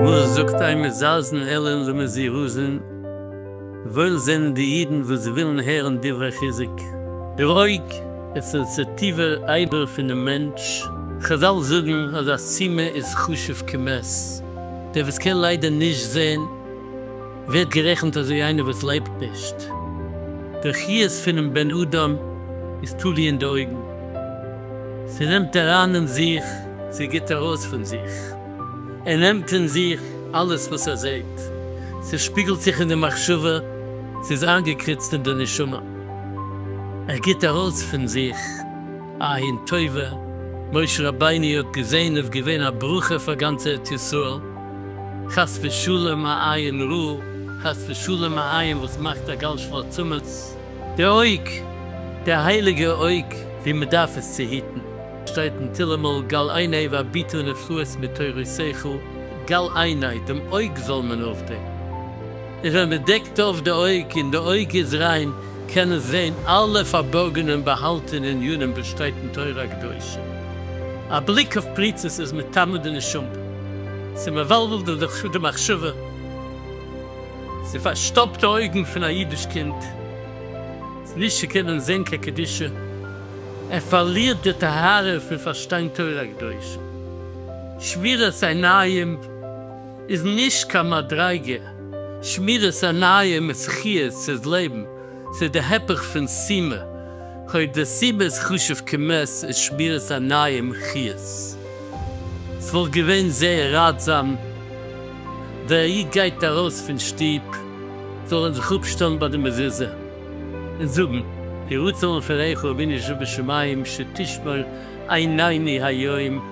וואס זאגט איי מזלזין אלין למזירוזין, וואויל זענען די אידן וואס ווילן הערן דברי חיזוק. דער אויג איז סענסעטיווער אייבער פונעם מענטש, חזל זאגן אז א סימא איז חשוב כמת, דער וואס קען ליידער נישט זען, ווערט גערעכנט אזוי איינער וואס לעבט נישט. דער חיות פונעם בן אדם איז תלוי אין די אויגן. ס'נעמט אריין אין זיך, ס'גיט ארויס פון זיך. ער נעמט אין זיך אלעס וואס ער זעט. ס'שפיגלט זיך אין די מחשבה, ס'איז איינגעקריצט אין די נשמה. ער גיט ארויס פון זיך א עין טובה. משה רבינו האט געזען איז געווען א ברכה פאר גאנץ ארץ ישראל. חס ושלום א עין רע, חס ושלום א עין וואס מאכט א גאלש פאר צומות די אויג, די הייליגע אויג ווי מען דארף עס צו היטן, שטייט אין תהלים אל גל עיני והביטו נפלאות מתורותיך, גל עיני, דעם אויג זאל מען אויפדעקן, און ווען מען דעקט אויף די אויג און די אויג איז ריין, קען עס זען אלע פארבארגענע און באהאלטענע עניינים וואס שטייט אין תורה הקדושה, א בליק אויף פריצות איז מטמא די נשמה. ס'מבלבלט דיר די חשו די מחשבה, ס'פארשטאפט די אויגן פון א אידיש קינד צו נישט צו קענען זען קיין קדושה, ער פארלירט די טהרה פון פארשטיין תורה קדושה, שמירת עיניים איז נישט קיין מדריגה, שמירת עיניים איז חיות, ס'איז לעבן, ס'איז די הפך פון סימה, היות די סיבה איז חשוב כמת איז שמירת עניים חיות. ס'וואלט געווען זייער ראטזאם ווען א איד גייט ארויס פון שטוב זאל ער זיך אפשטעלן ביי די מזוזה און זאגן, יהי רצון לפניך אבינו שבשמים שתשמור עיניני היום,